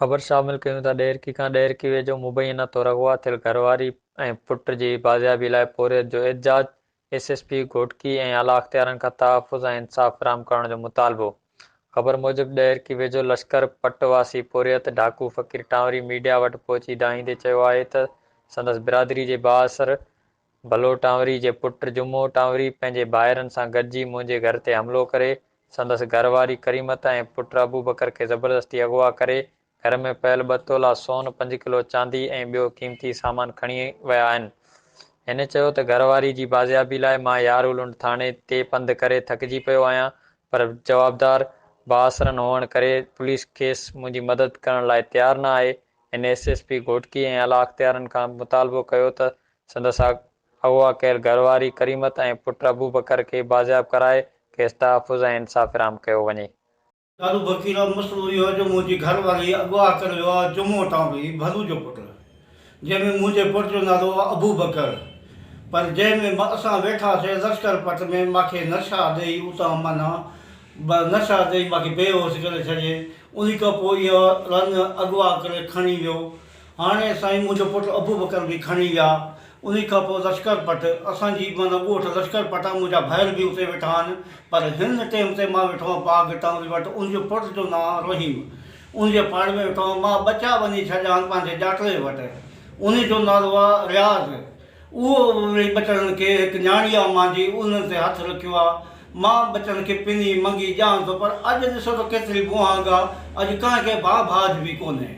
خبر شامل ڪيون ته ڏهرڪي کان ڏهرڪي ويجهو مبينا طور اغوا ٿيل گهر واري ۽ پٽ جي بازيابي لاء پورهيت جو احتجاج، ايس ايس پي گهوٽڪي ۽ اعليٰ اختيارن کان تحفظ ۽ انصاف فراهم ڪرڻ جو مطالبو. خبر موجب ڏهرڪي ويجهو لشڪر پٽ واسي پورهيت ڍاڪو فقير ٽانوري ميڊيا وٽ پهچي دانهيندي چيو آهي ته سندس برادري جي بااثر بلو ٽانوري جي پٽ جمعو ٽانوري پنهنجي ڀائرن سان گڏجي منهنجي گهر تي حملو ڪري سندس گهر واري ڪريمت ۽ پٽ ابوبڪر کي زبردستي اغوا ڪري گهر ۾ پيل ٻه تولا سون، پنج ڪلو چاندي ۽ ٻيو قيمتي سامان کڻي ويا آهن. هن چيو ته گهر واري جي بازيابي لاء مان يارولنڊ ٿاڻي تي پنڌ ڪري ٿڪجي پيو آهيان پر جوابدار بااثرن هئڻ ڪري پوليس کيس منهنجي مدد ڪرڻ لاء تيار نه آهي، هن ايس ايس پي گهوٽڪي ۽ اعليٰ اختيارن کان مطالبو ڪيو ته سندس اغوا ڪيل گهر واري ڪريمت ۽ پٽ ابوبڪر کي بازياب ڪرائي کيس تحفظ ۽ انصاف فراهم ڪيو وڃي. دارو بڪير جو مسئلو اهو آهي جو منهنجي گهر واري اغوا ڪيل ويو آهي جمعو ٽانبلي ڀلو جو پٽ جنهن ۾ منهنجي پٽ جو نالو هو ابوبڪر پر جنهن ۾ اسان ويٺاسين لشڪر پٽ ۾ ماکي نشا ڏئي اتان معنيٰ نشا ڏئي ماکي بي هوش ڪري ڇڏي انهي کان پوء اهو رن اغوا ڪري کڻي ويو هاڻي سائين منهنجو پٽ ابوبڪر به کڻي ويا انهي کان پوء لشڪر پٽ اسان جي معنيٰ ڳوٺ لشڪر پٽ آهي منهنجا ڀائر به اتي ويٺا آهن پر هن ٽيم تي مان ويٺو آهيان پاڳ ٽانوري وٽ ان جي پٽ جو نانء آهي رحيم ان جي پاڙي ۾ ويٺو آهيان مان ٻچا وڃي ڇڏيا آهن پنهنجي ڄاٽڙي وٽ انهي جو نالو آهي رياض اهو ويهي ٻچڙن کي هڪ نياڻي آ مان جي اونهن تي هٿ رکيو آ. مان ٻچڙن کي پني منگي ڄان ٿو پر اڄ ڏسو ته ڪيتري بونهانگ آ. اڄ ڪنهن کي ڀاء ڀاڄ به ڪونهي.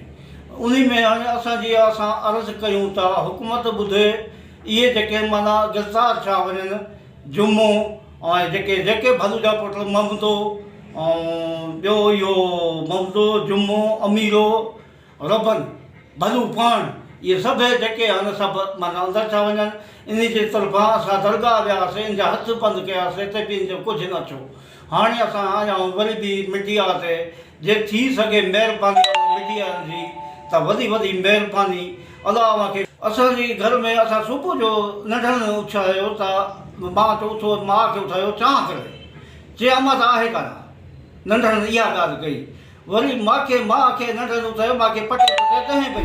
انهي ۾ هاڻي اسان جي آ اسان عرض ڪيون ٿا حڪومت ٻڌي اهي جيڪي معنيٰ گرفتار ٿيا وڃن جمو ۽ جيڪي جيڪي ڀلوجا پٽل ممدو ۽ ٻيو اهو ممدو جمو اميرو ربن، ڀلو پاڻ، اهي سڀيئي جيڪي هن سڀ من اندر ٿا وڃن، انهي جي طرفان اسان درگاهه وياسين، ان جا هٿ بند ڪياسين تي به ان جو ڪجهه نه ٿيو. هاڻي اسان آيائون وري به مڊيا تي، جي ٿي سگهي مهرباني اوهان مڊيائن جي ته وڏي وڏي مهرباني، الله اوهان کي. اسان جي گهر ۾ اسان صبح جو ننڊن اٿيو ته مان چيو اٿو ماء کي اٿايو چانهه ڪري، چي امان ته آهي ڪانه، ننڊن اها ڳالهه ڪئي، وري ماکي ماء کي ننڊ جو ٿيو ماکي پٽي پٽي ڏهين پئي.